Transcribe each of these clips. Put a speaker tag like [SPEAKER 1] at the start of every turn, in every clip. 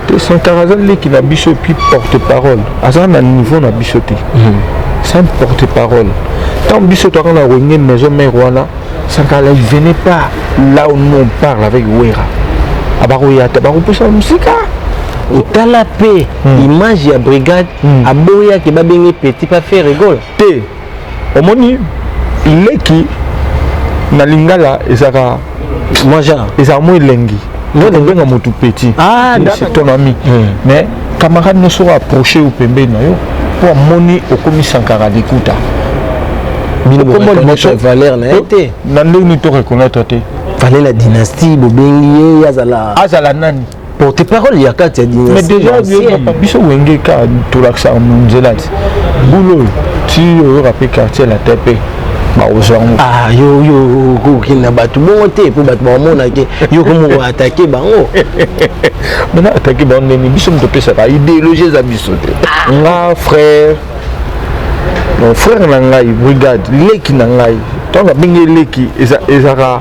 [SPEAKER 1] te sankara aza leki na biso epuis porte parole aza na niveau na biso te sans mhm. porte parole ntango biso toaka na renie maison mare wana sankara il venait pas là où nous on parle avec wera abakoya te bakopusa mosika otala
[SPEAKER 2] mpe hmm. image ya brigade hmm. aboyaki babenge petit pa faire rigole te
[SPEAKER 1] omoni leki na lingala ezaka
[SPEAKER 2] ezaka mo elengi
[SPEAKER 1] okobenga motu petit ah, ton
[SPEAKER 2] ami hmm.
[SPEAKER 1] mais camarade nyonso oyo approche yo pembeni na yo mpo amoni okomi sankara likuta okombo liboso
[SPEAKER 2] valeur na ye te na ndenge nini to reconnaître
[SPEAKER 1] te fale la dynastie
[SPEAKER 2] bobengi ye azala azala nani
[SPEAKER 1] porte parole ya
[SPEAKER 2] kati ya mais déjà
[SPEAKER 1] biso wenge ka tolakisaka nzela ti bulo oyo ti oyoka mpe quartier latin mpe bakozwa yango
[SPEAKER 2] ah, yo yo kokende na bato bongo te mpo bato bakomonake yo komoko atake bango
[SPEAKER 1] mana atake bango ndeni biso moto opesaka idéologie eza biso te ah. nga frère mon frère na ngai brigade leki na ngai ntango abengi leki ezaka eza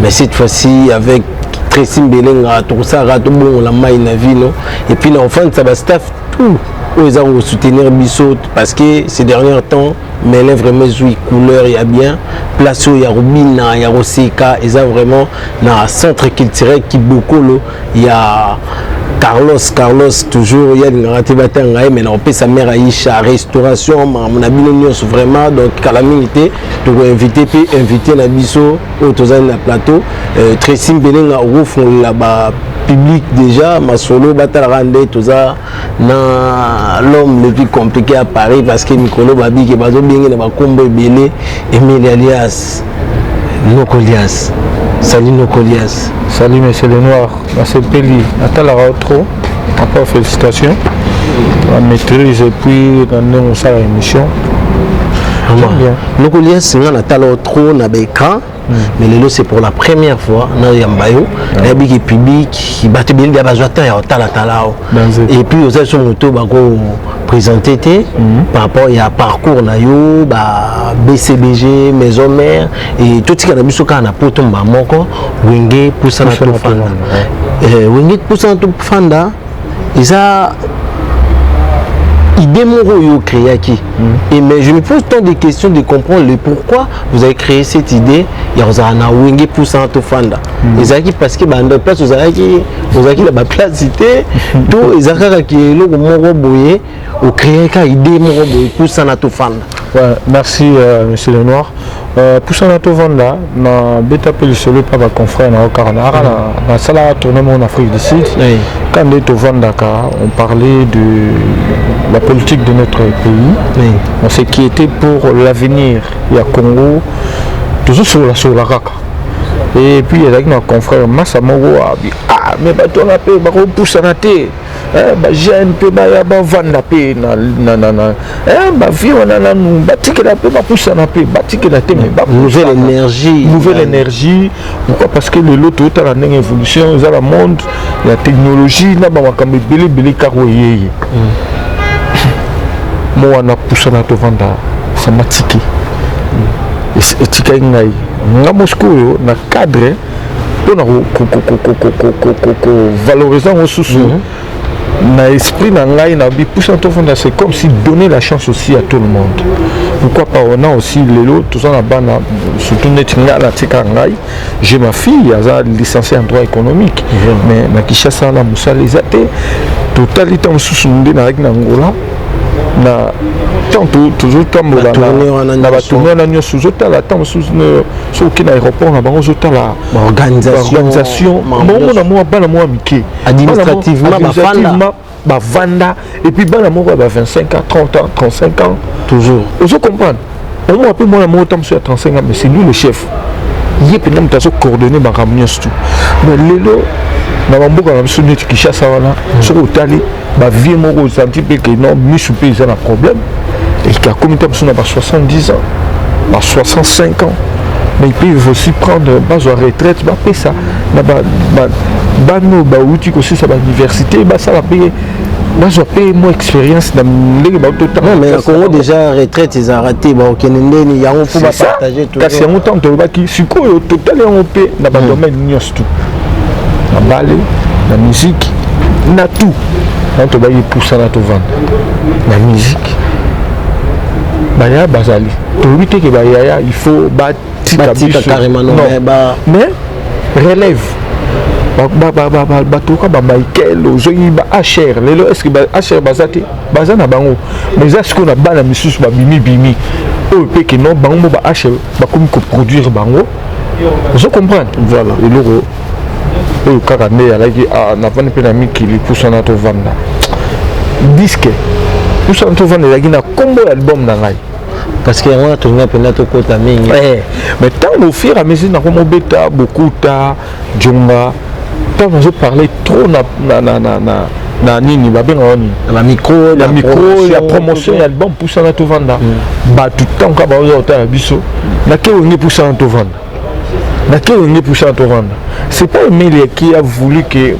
[SPEAKER 2] mais cette fois-ci avec Tracy Mbelenga tokosalaka tobongola mai na vino et puis na ofandisa ba staff tout oyo eza kosoutenir biso parce que ces derniers temps mele vraiment ezwi couleur ya bien place oyo ya kobina ya koseka eza vraiment na centre culturel kibokolo ya carlos carlos toujours ye alingaka te batanga ye mai nakopesa mare aisha restauration makambo na bino nyonso vraiment donc kala mingi te toko invité pe invité na biso oyo tozali na plateau euh, Tracy Mbelenga okofungolela ba public déjà masolo batalaka nde toza na l'homme le plus compliqué à Paris parce que mikolo babiki bazobenge na bakombo ebele Emile alias Nokolias salut Nokolias salut monsieur le
[SPEAKER 1] noir nasepeli natalaka yo trop encore félicitation la maîtrise et puis na ndenge osala émission
[SPEAKER 2] lokolia singa natala yo trop na baécran hmm. mais lelo c'est pour la première fois nayamba yo nayebiki public bato ebele bia bazwa temps ya kotalatala yo et puis oza biso moto bako présente te hmm. par rapport ya parcours na yo ba bcbg maison mère e, totikala biso kaka na poto mbaa moko wenge pusana tofanda e, wenge pusana tofanda eza idée moko oyo créaki mm. et mais je me pose tant de questions de comprendre le pourquoi vous avez créé cette idée ya kozala na wenge pusana tofanda mm. ezalaki parce que banda place ozalaki ozalaki na baplace te to eza kaka ke eloko moko boye o créer ka idée moko boye pusana tofanda ouais, merci
[SPEAKER 1] euh, monsieur le noir euh, pusana tovanda na beta mpe lisolo epa baconfrère na yo kaka na aka nasalaka tourne moko na afrique du sud oui. ka nde tovandaka on parlait de la politique de notre pays oui. on s'est qui était pour l'avenir ya congo tozosololasolola kaka et puis ezalaki na confrère masa moko abi ah mais bato wana mpe bakopusana te Eh, ba jeune mpe baya bavanda mpe eh, bavie wana nanu batikela mpe bapusana mpe batikela te me nouvelle énergie nouvelle énergie pourquoi parce que lelo toyotala ndenge évolution eza na monde ya technologie na bamakambo ebele ebele kaka oyeye mm. mo wana pusana tovanda sama tike mm. etikaki ngai nga mosikoyo na cadre mpona kovalorize yango susu mhm. na esprit na ngai na bipusa tofanda c'est comme si donner la chance aussi à tout le monde pourquoi pas on a aussi lelo toza na bana surtout neti ngai natika ngai j'ai ma fille aza licencié en droit économique mais na kinshasa na mosala eza te totali ntango mosusu nde nayaki na ngola na ntango tozotambola na batourne wana nyonso ozotala ntango mosusu soki okende aéroport na bango ozotala baorganisation bango na mwa bana mwa mike administrativement bavanda epuis bana moko ya ba 25 ans 30 ans 35 ans toujours ozo
[SPEAKER 2] comprendre
[SPEAKER 1] omona mpe mwana moko ta mosusu ya 35 ans mais c'est lui le chef ye mpenza moto azo coordonne makambo nyonso tu mais lelo na bamboka na biso neti kinshasa wana soki otali ba vie moko osanti mpe ke non misu mpe eza na problème et akomi ta biso na ba 70 ans ba 65 ans mais ils peuvent aussi prendre bazwa retraite bapesa na bana oyo bauti kosisa bauniversité basala mpe bazwa mpe mwa expérience na ndenge bautotanga congo
[SPEAKER 2] déjà retraite ezalaka te baokende ndeni yango mpo bapartage kasi yango ntango tolobaki
[SPEAKER 1] sikoyo totali yango mpe na badomaine hmm. nyonso na bale na miziki na tout na tobaki epusana tovanda na miziki bayaya bazali toyebi te ke bayaya il faut batika biso
[SPEAKER 2] mais
[SPEAKER 1] relève batoka bamichael ozongi ba hr lelo estce ba hr baza te baza na bango mais eza sikoyo na bana misusu babimibimi oyo mpe keno bango mo ba hr bakomi koproduire bango ozo comprendre voilà eloko oyo kaka nde alaki ah, navandi mpe na mikili pusana tovanda diske pusana tovanda ezalaki na nkombo ya album na ngai parce que yango wana
[SPEAKER 2] tolinga mpenza tokota mingi eh, mais ntango au
[SPEAKER 1] fur et à mesure nakomobeta bokuta Djonga ntango nazo parle trop na, na, na, na, na, na nini babenga wani na micro na
[SPEAKER 2] micro ya
[SPEAKER 1] promotion ya album pusana tovanda mm. bato ntango kaka baoza kotala biso na ke wenge pusana tovanda na ke wenge pusana tovanda c'est pas Emilia qui a voulu que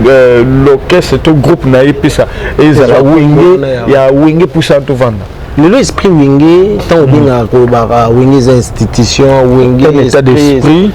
[SPEAKER 1] euh, l'orchestre to groupe na ye pesa ezala wenge ya wenge pusana tovanda lelo esprit wenge
[SPEAKER 2] ntango obengaka kolobaka wenge eza institution wenge état d'esprit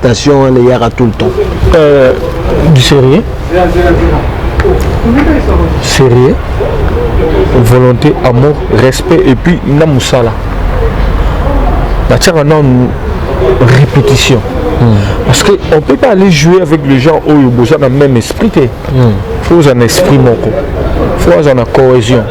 [SPEAKER 2] Tension wana eyaka tout le temps. Euh,
[SPEAKER 1] du sérieux sérieux volonté amour respect et puis na mosala natiaka nanu répétition mm. parce que on peut pas aller jouer avec les gens oyo boza na même esprit te mm. faut oza na esprit moko faut oza na cohésion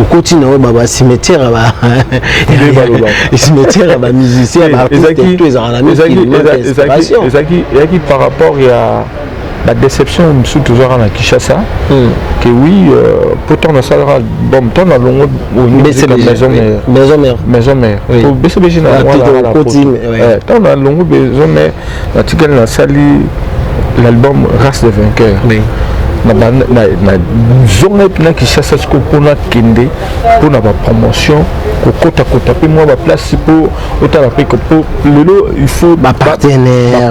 [SPEAKER 2] okoti na oyo baba cimetière ya ba cimetière ya ba musicien ba artiste to ezalaka na miezalaki ezalaki
[SPEAKER 1] par rapport ya ba déception mosusu tozwaka na kinshasa hmm. que oui euh, po ntango nasalaka album ntango na longo maison mère maison mère bcbg na ntango na longo maison mère natikali nasali l'album race de vainqueur oui. nazongai mpena kinshasa sikoyo mpo nakende mpo na bapromotion kokotakota mpe mwa baplace mpo otala mpe lelo il faut bapartenaire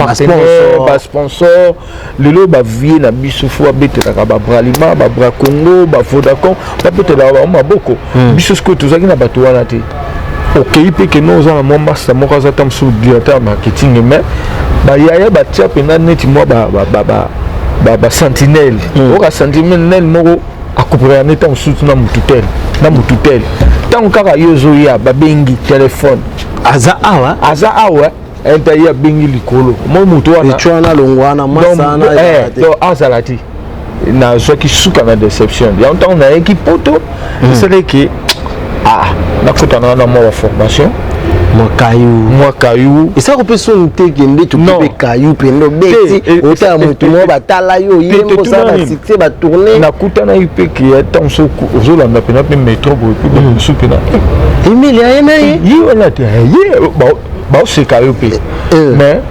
[SPEAKER 1] basponsor lelo ba vie na biso fo abetelaka ba bralima ba bra congo ba vodacom babetelaka bango maboko hmm. biso sikoyo tozalaki na bato wana te okei mpe kende oza na mwa masta moko aza ta mosusu directeur ya marketing mais bayaya batia mpenza neti mwa basentinele hmm. oka sentinele moko akopekaka nde ntango mosusu na motu tele na motu tele ntango kaka yo ozoya babengi telefone aza awa
[SPEAKER 2] aza awa enta ye
[SPEAKER 1] abengi likolo moi moto wanaana longwana
[SPEAKER 2] mwasana eh, azala
[SPEAKER 1] te nazwaki suka na deception yango ntango nayaki poto hmm. esalaki ah, nakutana wana mwa baformation mwa kayu mwa kayu esako mpe soni te
[SPEAKER 2] kende tokipe kayu mpende obeti otala moto moko batala yo yembosala basite batourne nakutanaki mpe
[SPEAKER 1] ke ata mosu ozolanda mpena mpe metro boye mpe mosu mpena emilia ye
[SPEAKER 2] na ye ye wana te ye
[SPEAKER 1] baoseka yo mpe eh, eh. mais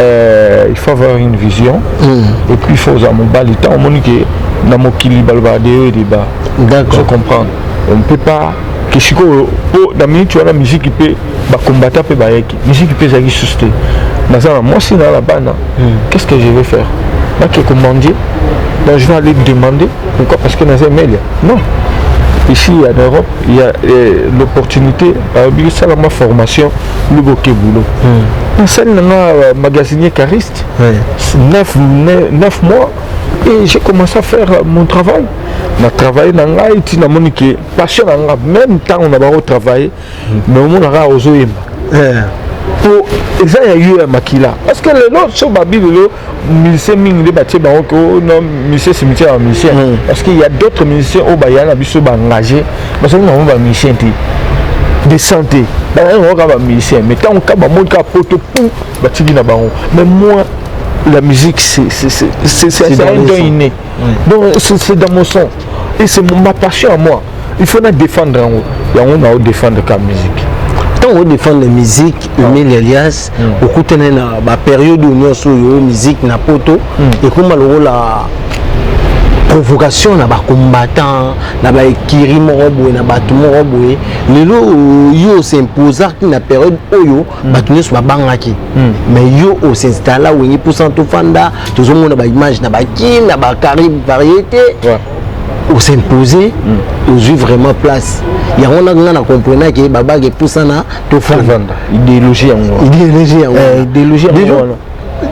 [SPEAKER 1] euh, il faut avoir une vision mm. et puis il faut oza mobali ntango omoni ke na mokili balobaka de yo et deba je comprendre on ne peut pas ke sikoyo mpo na miniti wana miziki mpe bakombata mpe bayaki miziki mpe ezalaki susu te naza na mwasi naa na bana hmm. qu'est ce que je vais faire nake komandie donc je vais aller demander pourquoi parce que naza emelia non ici en europe il y a eh, l'opportunité alobi sala ma formation lobo ke boulot hmm. nasali na nga euh, magasinier cariste ouais. 9, 9 mois et j'ai commencé à faire euh, mon travail na travaille na ngai ti namoni ke passion na nga même ntango na bango travaille hmm. mais omonaka ozoyemba eh. po eza ya yo ya makila parce que lelo so babi lelo musicien mingi nde batie bango ko oh, no musicien cimetière ya musicien mm. parce que ya d'autres musicien oyo baya na biso baengage bazali nango bamusicien te de santé bazali nango kaka bamusicien mais ntango kaka bamoni kaka poto pou batiki na bango mais moi la musique c'est un don inné donc c'est dans mon sang et c'est ma passion à moi il faut na défendre yango yango nao défendre ka musique ntango odefendre
[SPEAKER 2] musique emile ah. elias hmm. okutani na baperiode nyonso oyo musique na poto hmm. ekoma lokola provocation na bacombattant na baekiri moko boye na bato moko boye lelo yo osimposaki na periode oyo mm. bato nyonso babangaki mm. mais yo osinstalla wenge mposa tofanda tozomona baimage na bakin na bacaribe variété ouais. osimposer mm. ozwi vraiment place yango na nga na comprena ke babage epusana tofanda idéologie yango idéologie yango eh, idéologie yango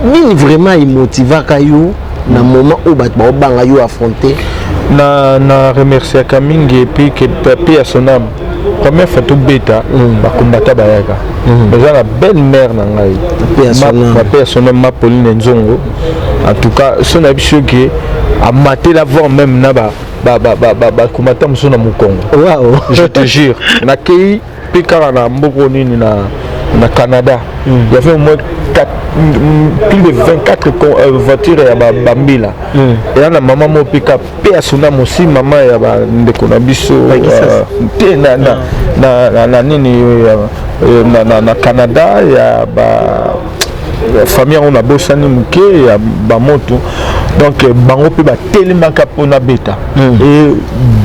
[SPEAKER 2] nini vraiment emotivaka yo na moment oyo bato baobanga yo affronte na, na
[SPEAKER 1] remerciaka mingi epuis ke pape ya son âme première fois tobeta mm. bakombata bayaka mm. eza na belle mare na ngai pape ya son âme ma pauline nzongo en tout cas so na biso ke amatela voir même na ba bakombata mosusu na mokongo je te jure nakei Mpe kaka na mboko nini na, na Canada mm. il y avait au moins 4, plus de 24 euh, voitures ya bambila ba mm. eya na mama moko mpe ka mpe asuna mosi mama ya bandeko na biso euh, te na, na, mm. na, na, na nini euh, na, na, na Canada ya ba famille yango nabosani moke ya bamoto donc euh, bango mpe batelemaka mpo nabeta hmm. e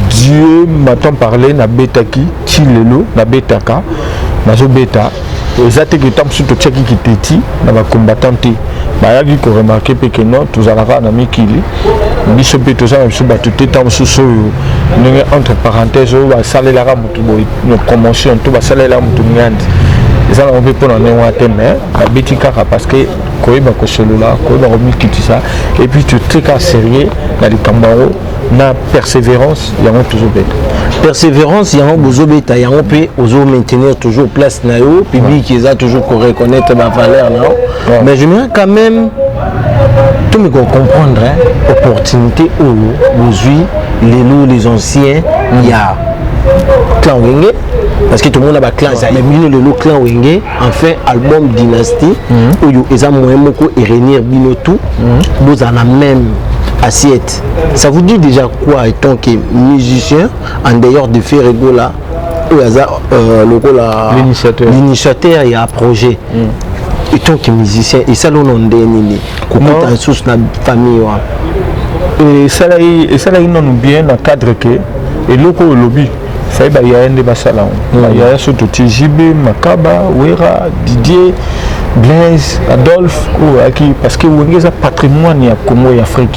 [SPEAKER 1] dieu matant parle nabetaki ti lelo nabetaka nazobeta eza te ke ntango mosusu totiaki kiteti na bacombattant te bayaki koremarke mpe ke non tozalaka na mikili biso mpe toza na biso bato te ntango mosusu oyo ndenge entre parenthèse oyo basalelaka promotion to basalela moto miandi eza nango mpe mpona ndenge wana te mais babeti kaka parce que koyeba kosolola koyeba komikitisa epuis totie kaka sérieux na likambo yango na persévérance yango tozobeta persévérance
[SPEAKER 2] yango bozobeta yango mpe ozo maintenir toujours place na yo public eza toujours koreconnaitre bavaleur na yo ouais. mais j'aimerais quand même tomi kocomprendre hein, opportunité oyo bozwi lelo les anciens mm. ya clan wenge parce que tomona baclan ezali bino lelo clan wenge enfin album dynastie mm. oyo eza moyen moko erenir bino tout mm. bozala na même assiette ça vous dit déjà quoi étant que musicien en dehors de ferre egola oyo aza euh, lokola l'initiateur ya projet mm. etant que musicien esali ono nde nini kokuta lisusu na famille wana
[SPEAKER 1] esalaki nanu bien na cadre ke eloko oyo olobi sai bayaya nde basala yango mm. bayaya so toti jb makaba wera didier blaise adolphe oyo ayaki parce que wenge eza patrimoine ya congo ya afrique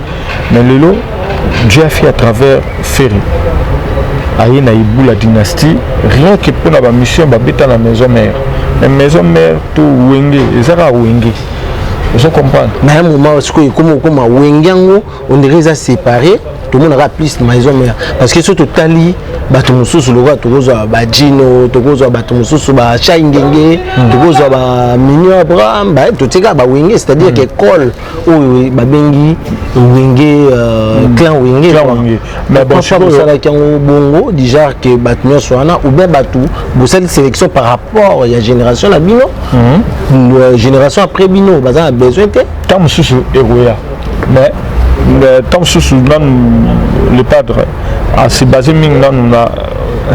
[SPEAKER 1] mais lelo dieu afi à travers ferre aye na ibu la dynastie rien que mpo na bamission babeta na maison mère mais maison mère to wenge eza kaka wenge ozo comprendre na ya moment sikoyo
[SPEAKER 2] ekoma okoma wenge yango ondire eza séparé tomonaka plus maison mère parce que soki totali bato mosusu lokola tokozwa bajino tokozwa bato mosusu bachai ngenge hmm. tokozwa baminion abraham totikaka bawenge c'est-à-dire hmm. que ekole oyo babengi wenge euh, hmm. clan wenge pourquoi bosalaki yango bongo déjà ke bato nyonso wana ou bien bato bosali sélection par rapport ya génération na bino hmm. euh, génération après bino baza na besoin te ntango mosusu ekoya
[SPEAKER 1] mais ntango mosusu nanu le padre asibase mingi nanu na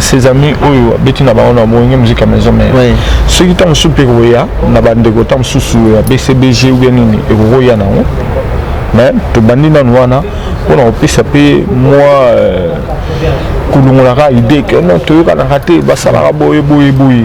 [SPEAKER 1] ses amis oyo abeti na bango na boyenge muziki ya maison mère oui. soki ntango mosusu mpe ekoya na bandeko ntango mosusu ya bcbg ou bien nini ekokoya nango mais tobandi nanu wana mpona kopesa mpe mwa euh, kolongolaka idee ke non toyokanaka te basalaka boye boye boye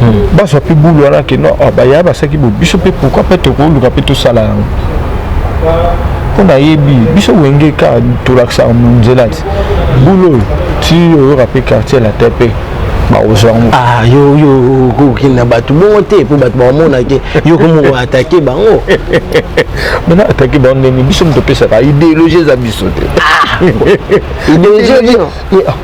[SPEAKER 1] hmm. bazwa mpe bulu wana ke no ah, baya basaki bo biso mpe pourkui mpe tokoluka mpe tosala yango mpo nayebi biso wenge ka tolakisaka monzela ti bulu oyo ti oyoka mpe quartier la te mpe bakozwa yango ah, yo yo
[SPEAKER 2] okokende na bato bongo te mpo bato bakomonake yo komoko atake bango
[SPEAKER 1] mana atake bango ndeni biso moto opesaka idéologie eza biso te ah, idéologie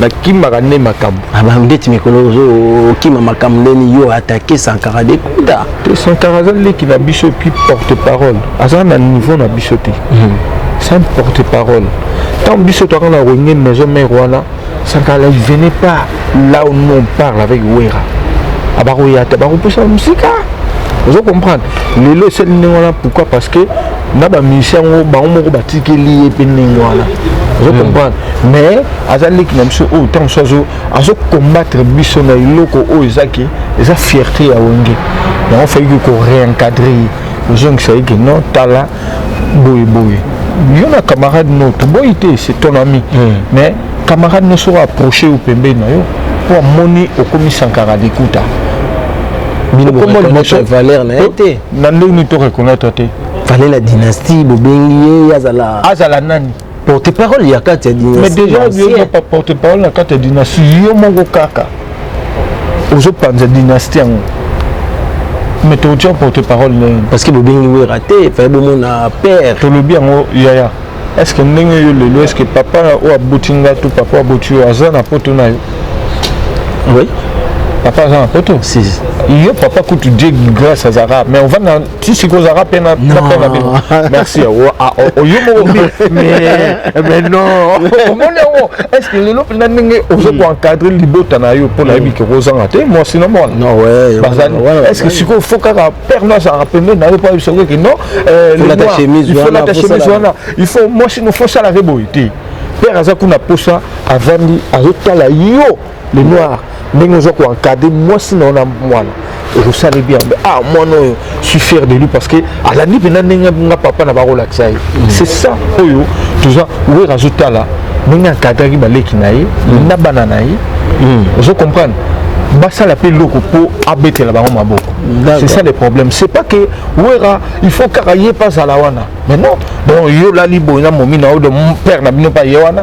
[SPEAKER 1] nakimaka nde makambo ah, bandeti mikolo
[SPEAKER 2] ozokima makambo ndeni yo atake sankara dekuda te sankara aza leki
[SPEAKER 1] na biso epuis porte parole aza na niveau na biso te hmm. sans porte parole ntango biso toaka na renie maison mare wana sankara il venait pas là où nous on parle avec wera abakoya ah, te bakopusa mosika ozo comprendre lelo esali ndenge wana pourquoi parce que na bamusicien yango bango moko batikeli ye mpe ndenge wana ozo hmm. comprendre mais aza leki na biso oyo ntango mosusu azo azo combattre biso na eloko oyo eza ke eza fierté ya wenge yango fayiki ko réencadre ye ozongisa ye ke non tala boye boye yo na camarade no toboyi te c'est ton ami mm. mais camarade no soko approche yo pembeni na yo mpo amoni okomi sankara likuta valeur
[SPEAKER 2] na ye te na ndenge nini to reconnaître
[SPEAKER 1] te fale la dynastie
[SPEAKER 2] bobengi ye azala azala nani porte
[SPEAKER 1] parole ya
[SPEAKER 2] kati ya dynastie mais déjà yo
[SPEAKER 1] pas porte parole na kati ya dynastie yo moko kaka ozo panza dynastie yango mais tokotia porte parole na ye parce que bobengi
[SPEAKER 2] wera te faye bomona père tolobi yango
[SPEAKER 1] yaya est ce que ndenge yo lelo est ce que papa oyo aboti nga to papa aboti yo aza na poto na yo oui
[SPEAKER 2] papa
[SPEAKER 1] aza na poto si. yo
[SPEAKER 2] papa
[SPEAKER 1] kutu die grâce azalaka mais ovanda si sikoyo ozalaka mpe na mpe na bino merci oyo ah, moko mais non omoni yango est ce que lelo mpenza ndenge ozo hmm. koencadre libota na yo mpo nayebi hmm. kokozanga te mwasi na mwana bazali
[SPEAKER 2] est ce que sikoyo
[SPEAKER 1] fo kaka père no azalaka pembeni na yo mpo ayebisa okoki non
[SPEAKER 2] lata chemise wana
[SPEAKER 1] il faut mwasi no fo osalaka boye te père aza kuna mposa avandi azotala yo le noir ndenge oza koencadre mwasi na yo na mwana osali bien ah mwana oyo suis fier de lui parce que alandi mpenza ndenge nga papa na bakolakisa ye mm. c'est ça oyo toza wer azotala ndenge akadraki baleki na ye mm. na bana na ye mm. ozo comprendre basala mpe eloko mpo abetela bango maboko c'est ça le problème c'est pas que wera il faut kaka ye mpe azala wana mais non bon yo olali boye na momi na yo de père na bino mpe aye wana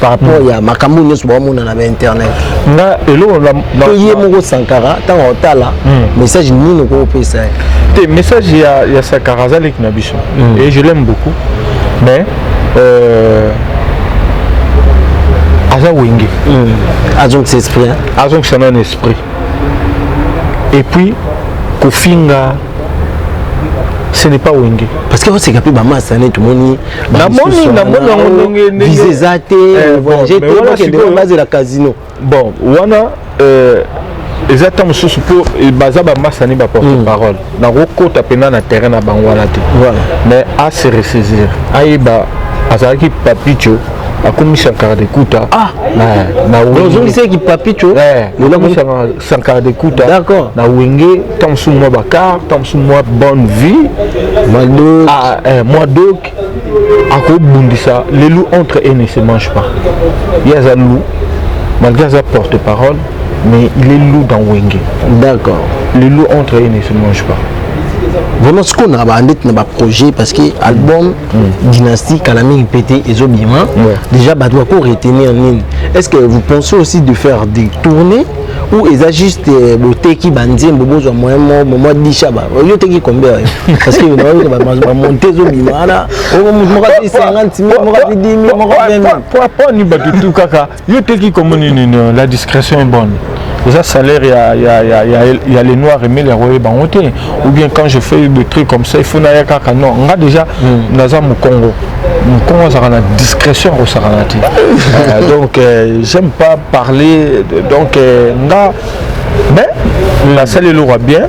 [SPEAKER 2] par rapport hmm. ya makambo nyonso baomona na bainternet nga eloko
[SPEAKER 1] to ye moko
[SPEAKER 2] sankara ntango otala hmm. message nini okopesa ye te message
[SPEAKER 1] ya, ya sankara aza leki na biso hmm. et je l'aime beaucoup mais euh, aza wenge azongisa
[SPEAKER 2] esprit azongisa nano
[SPEAKER 1] esprit et puis kofinga ce n'est pas wenge parce que oseka mpe
[SPEAKER 2] bamasa nde tomoni namoni namoni yango ndenge ndenge visa eza te eh, voyage te bakende bazela casino bon wana
[SPEAKER 1] euh, eza ntango mosusu mpo eh, baza bamasani baporte hmm. parole nakokota mpenza na terrain na bango wana te mais ase ressaisir ayeba azalaki papicho akomisaka likuta ah. na
[SPEAKER 2] ozongisaki papicho eh,
[SPEAKER 1] sankara de kuta d'accord na wenge
[SPEAKER 2] ntango
[SPEAKER 1] mosusu mwa bakar ntango mosusu mwa bonne vie mwadok ah, eh, mwadok akobundisa le loup entre et ne se mange pas ye aza loup malgré aza porte parole mais il est loup dans wenge d'accord
[SPEAKER 2] le loup entre
[SPEAKER 1] et ne se mange pas vraiment
[SPEAKER 2] sikoyo na bandeti na baprojet parce que album mm. dynastie kala mingi pe te ezobima ouais. déjà bato bako retenir nini est ce que vous pensez aussi de faire des tournées ou eza juste euh, boteki banzembo bozwa moyen mo momo disha ba yo teki kombe oyo parce que baoyo ba monter zo bima wana o moto moko ati 50 moko ati 10 moko 20 moko ni batu tu
[SPEAKER 1] kaka Yo teki comme nini la discrétion est bonne. eza salaire ya, ya, ya, ya, ya les noirs emeli yango oyeba yango te ou bien quand je fais des trucs comme ça il faut naya kaka non nga déjà mm. naza mokongo mokongo azalaka na discrétion akosakana te euh, donc euh, j'aime pas parler donc euh, nga mais nasali eloko ya bien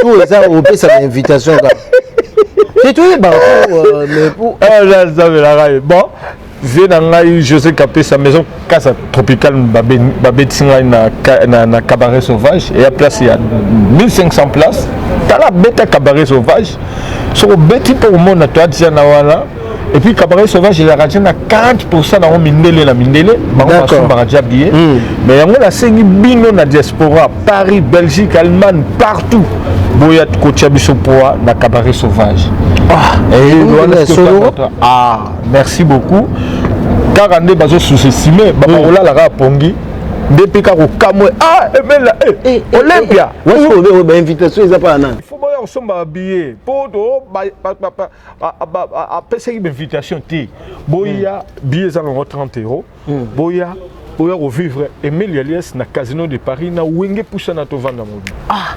[SPEAKER 2] to eza opesa na invitation kaka te toyeba euh, mais pour azabelaka ah, ye
[SPEAKER 1] bon vie na ngai josé kapesa maison kasa tropical babetisi ngai na, na, na cabaret sauvage eya place ya 1500 place tala beta cabaret sauvage soki obeti mpo omona toadisa na wana et puis cabaret sauvage elaka ti na 40 pourcent nango mindele na mindele bango basombaka dia biye hmm. mais yango nasengi bino na diaspora paris belgique allemagne partout boya kotia biso poa na cabaret sauvage ah, eh, ah, merci beaucoup kaka nde bazo sous-estime bakolala hmm. kaka pongi nde mpe kaka kokamwe ah emela eh, eh, eh, olympia wasobe
[SPEAKER 2] bainvitation eza mpa na nani il faut boya kosomba
[SPEAKER 1] babillet mpo to apesaki bainvitation te boya hmm. biye eza nango 30 euro hmm. boya oya kovivre emile alias na casino de paris na wenge pusa na tovanda mobi ah.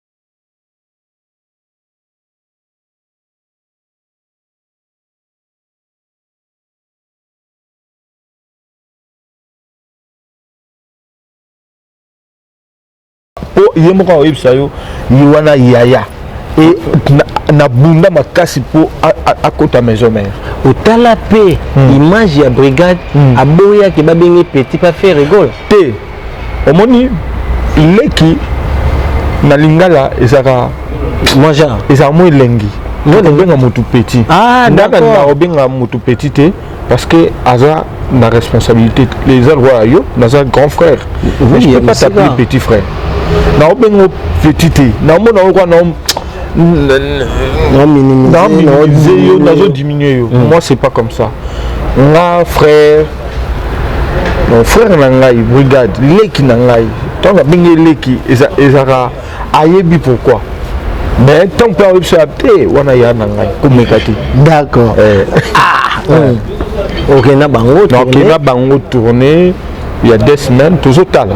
[SPEAKER 1] po ye moko akoyebisa yo ye wana yaya e nabunda makasi mpo akota maison mère otala mpe
[SPEAKER 2] hmm. image ya brigade hmm. aboyaki babengi petit pa fe rigole te
[SPEAKER 1] omoni leki na lingala ezaka mwa genre
[SPEAKER 2] ezaka mwa elengi
[SPEAKER 1] obenga motu petit ah,
[SPEAKER 2] ndaka
[SPEAKER 1] na obenga motu petit te
[SPEAKER 2] parce
[SPEAKER 1] que aza na responsabilité eza lokola yo naza grand frère mais je peux pas t'appeler petit frère na obenga petit te na omona yo kwa na naminimize yo nazodiminue yo mm. moi c'est pas comme ça nga frère donc frère na ngai brigade leki na ngai ntango abengi leki ezalaka ayebi pourquoi mais ntango mpe ayebi so te wana ya na ngai komeka te d'accord eh. ah,
[SPEAKER 2] hmm. okenda bango okenda bango tourne
[SPEAKER 1] ya deux semaines tozotala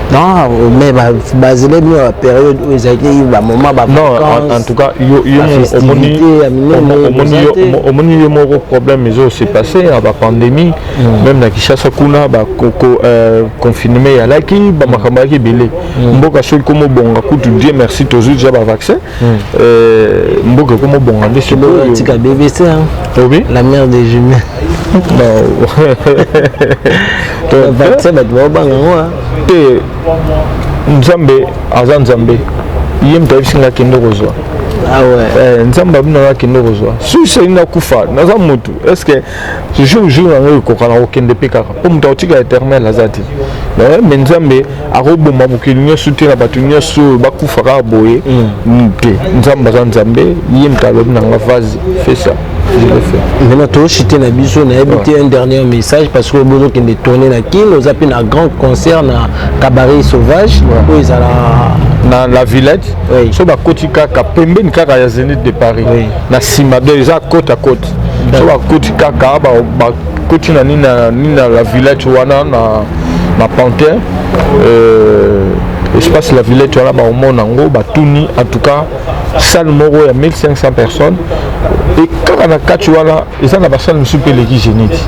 [SPEAKER 1] non
[SPEAKER 2] mais bazelemi ba ya période oyo ezalaki ba moment ba non en, en tout cas
[SPEAKER 1] yo yo omoni omoni yo moko problème ezo se passer na ba pandémie mm. même na Kinshasa kuna ba koko euh, confinement ya laki ba mm. makambo yaki belé mm. mboka soki komo bonga kutu Dieu merci tozui déjà ba vaccin mm. euh, mboka komo bonga nde solo tika BBC
[SPEAKER 2] hein oui la mère des jumelles te
[SPEAKER 1] nzambe aza nzambe ye moto ayebisi nga kende kozwa
[SPEAKER 2] Ah eh, nzambe abino nga kende
[SPEAKER 1] kozwa susi alingi nakufa naza motu est ce que jour jour yango ekoka na kokende mpe kaka mpo moto akotika éternel aza te mais nzambe akoboma mokili nyonso te na bato nyonso oyo bakufa kaka boye mm. te nzambe aza nzambe ye moto alobi na nga vase fesa maintenant toshite na
[SPEAKER 2] biso nayebi te un dernier message parce que bozokende tourne na kin oza mpe na grand concert na cabaret sauvage oyo ezala na la
[SPEAKER 1] villette oui. so bakoti kaka pembeni kaka ya zenith de paris oui. na nsima do eza cote à cote so bakoti kaka koti na nini na nini na la villette wana na na pantin euh, espace la villette wana baomona yango batuni en tout cas salle moko ya 1500 personnes e kaka na kati wana eza na basale mosusu mpe eleki génite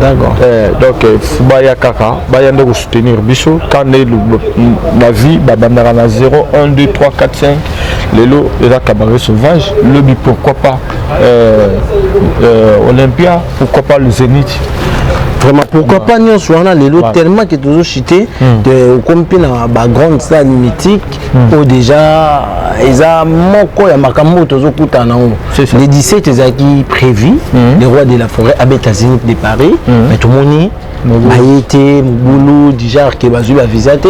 [SPEAKER 1] d'accord
[SPEAKER 2] eh, donc euh,
[SPEAKER 1] baya kaka baya nde kosoutenir biso ka nde na vie babandaka na 0 1 2 3 4 5 lelo eza cabaret sauvage lobi pourquoi pas euh, euh, Olympia, pourquoi pas le Zénith vraiment
[SPEAKER 2] pourquoi pas nyonso wana lelo tellement que tozo chite hmm. okomi mpe na bagrande star mythique hmm. oyo déjà eza moko ya makambo oyo tozokutana nango le 17 ezalaki prévu hmm. le roi de la forêt abeta zénith de paris mais tomoni baye te mobulu déjà ke bazwi ba visa te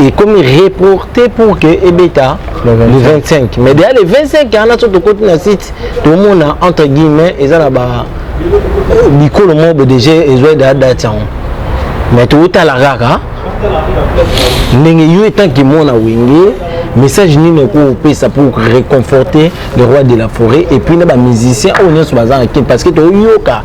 [SPEAKER 2] ekomi reporte pour ke ebeta le 25 mais deja le 25 wana so tokoti na site tomona entre guillemets eza na ba euh, bikolo moko bo déjà ezwa deja date yango mais totala kaka ndenge yo etanke mwana wenge message nini okoki kopesa pour réconforter le roi de la forêt et puis na bamusicien oyo nyonso baza na kin parce que toyoka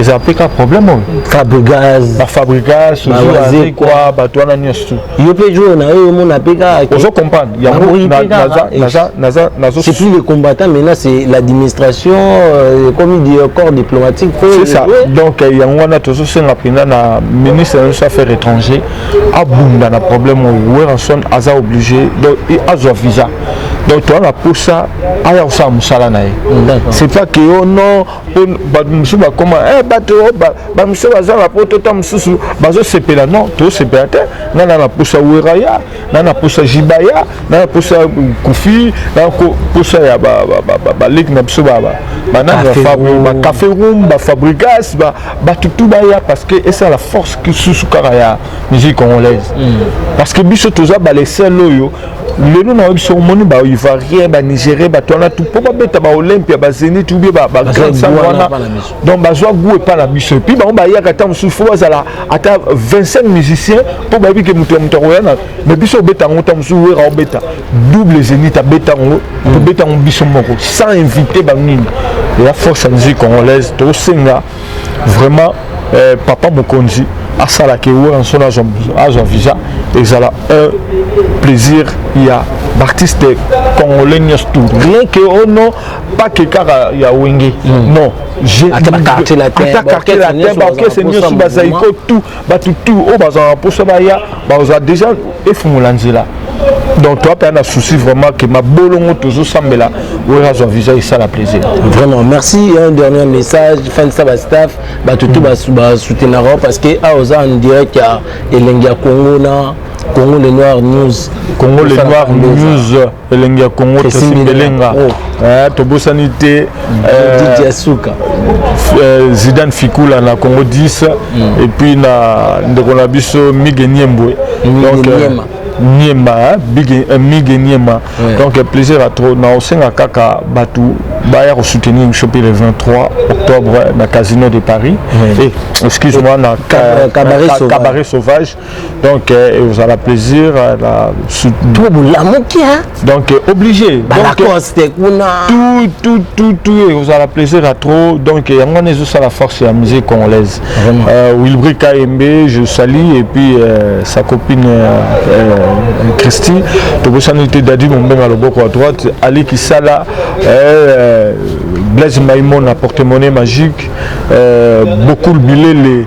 [SPEAKER 1] eza mpe ka problème oyo fabrigaz
[SPEAKER 2] bafabrigaz ozwazekwa
[SPEAKER 1] bato wana nyonso yo mpe jour na yo
[SPEAKER 2] omona mpe kaka ozo comprendre yango
[SPEAKER 1] c'est plus le
[SPEAKER 2] combattant maintenant c'est l'administration euh, comme dit euh, corps diplomatique c'est ça donc
[SPEAKER 1] euh, yango wana tozosenga mpenza na ministre na biso affaire étranger abunda na problème oyo weranson aza obligé donc azwa visa donc toza na mposa aya kosala mosala na ye c'est pas que yo oh non mpo bato mosusu bakoma eh, bato oh, bamosusu baza na poto ta mosusu bazosepela non tosepela te nga na na posa weraya na na posa jibaya na na posa kufi na posa ya baleki na biso banacafe room bafabrigas bato tu baya parce que esa la force susu kaka ya musique congolaise hmm. parce que biso toza balesele oyo lelo na oyebi soki omoni baivarien banigerie bato wana tu mpo babeta baolympia bazenit ubie bagrandsan wana donc bazwa gout epai na biso epuis bango bayaka ntango mosusu fo bazala ata 25 musicien mpo bayebi ke moto ya moto akoya na mai biso obeta yango ntango mosusu wera obeta double zenit abeta yango tobeta yango biso moko sans invité banini ya force ya musique congolaise tosenga vraiment eh, papa mokonzi asala ke weranson azwa visa ezala un plaisir ya baartiste congolais nyonso tout rien ke o oh non pas ke kaka ya wenge hmm. non ata quartier
[SPEAKER 2] latin baorchestre
[SPEAKER 1] nyonso bazaiko tout bato tu oyo bazala na mposa baya baza deja efungola nzela donc toi mpe na souci vraiment que mabolongo tozosambela oyo azwa visa esala plaisir vraiment merci
[SPEAKER 2] un dernier message fanisa bastaff bato tu basoutenaka parce que awa oza en direct ya elengi ya congo na congo le noir news congo le noir
[SPEAKER 1] news elengi ya congo tresi mbelenga eh, tobosani te eh,
[SPEAKER 2] eh,
[SPEAKER 1] zidane fikula na congo 10 mm. epuis na ndeko na biso mige niembwe donc niema mige niema donc plaisir ya trop na osenga kaka bato baya kosoutenir biso mpe le 23 octobre na casino de paris excuse moi na cabaret sauvage donc eh, ekozala plaisir eh, na to bolamuki donc eh, obligé balacoste kuna tutututu ekozala plaisir ya trop donc yango wana ezosala force ya musique congolaise euh, wilbri kayembe je sali et puis euh, sa copine euh, christi tobosani te dadi mombenga loboko ya droite ali kisala blaise maimon na porte-monnaie magique bokul bilele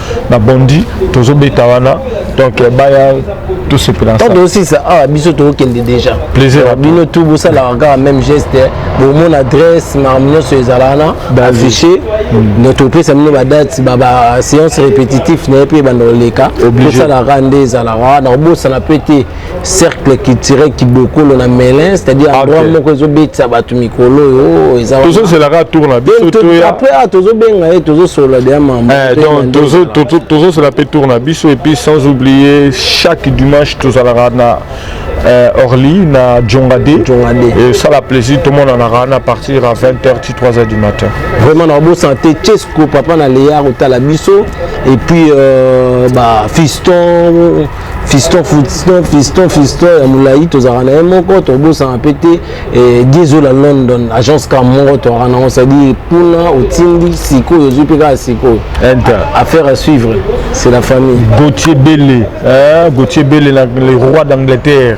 [SPEAKER 1] na bondi tozobeta wana donc eh, baya tosepela ntango tozosisa awa ah,
[SPEAKER 2] biso tokokende déjà plaisir bino tu
[SPEAKER 1] bosalaka
[SPEAKER 2] kaka même geste eh. bomona adresse makambo nyonso ezala wana affiché hmm. donc topesa bino badate baséance répétitif na ye mpe ebanda koleka tosalaka nde ezalaka wana kobosana mpe te cercle culturel kibokolo na melin c'est-à-dire ah, endroit moko ezobetisa bato mikolo oyo eza tozozelaka
[SPEAKER 1] tour na biso après ah,
[SPEAKER 2] tozobenga ye tozosolola deya mamtozosela
[SPEAKER 1] mpe tour na biso epuis sans oublier chaque dimanche tozalaka na euh, Orly na Djongade et ça la plaisir tout le monde en a à partir à 20h 3h du matin vraiment na bo santé
[SPEAKER 2] Chesco papa na Léa otala biso et puis euh, bah fiston fiston fiston fiston fiston ya molai tozalaka na ye moko tobosana mpe te eh, diezola london agence ka moko toyaka nango cestadire mpuna otindi sikoyo ozwi mpe kaka sikoyo affaire à suivre c'est la famille gautier bele
[SPEAKER 1] eh, gautier bele le roi d'angleterre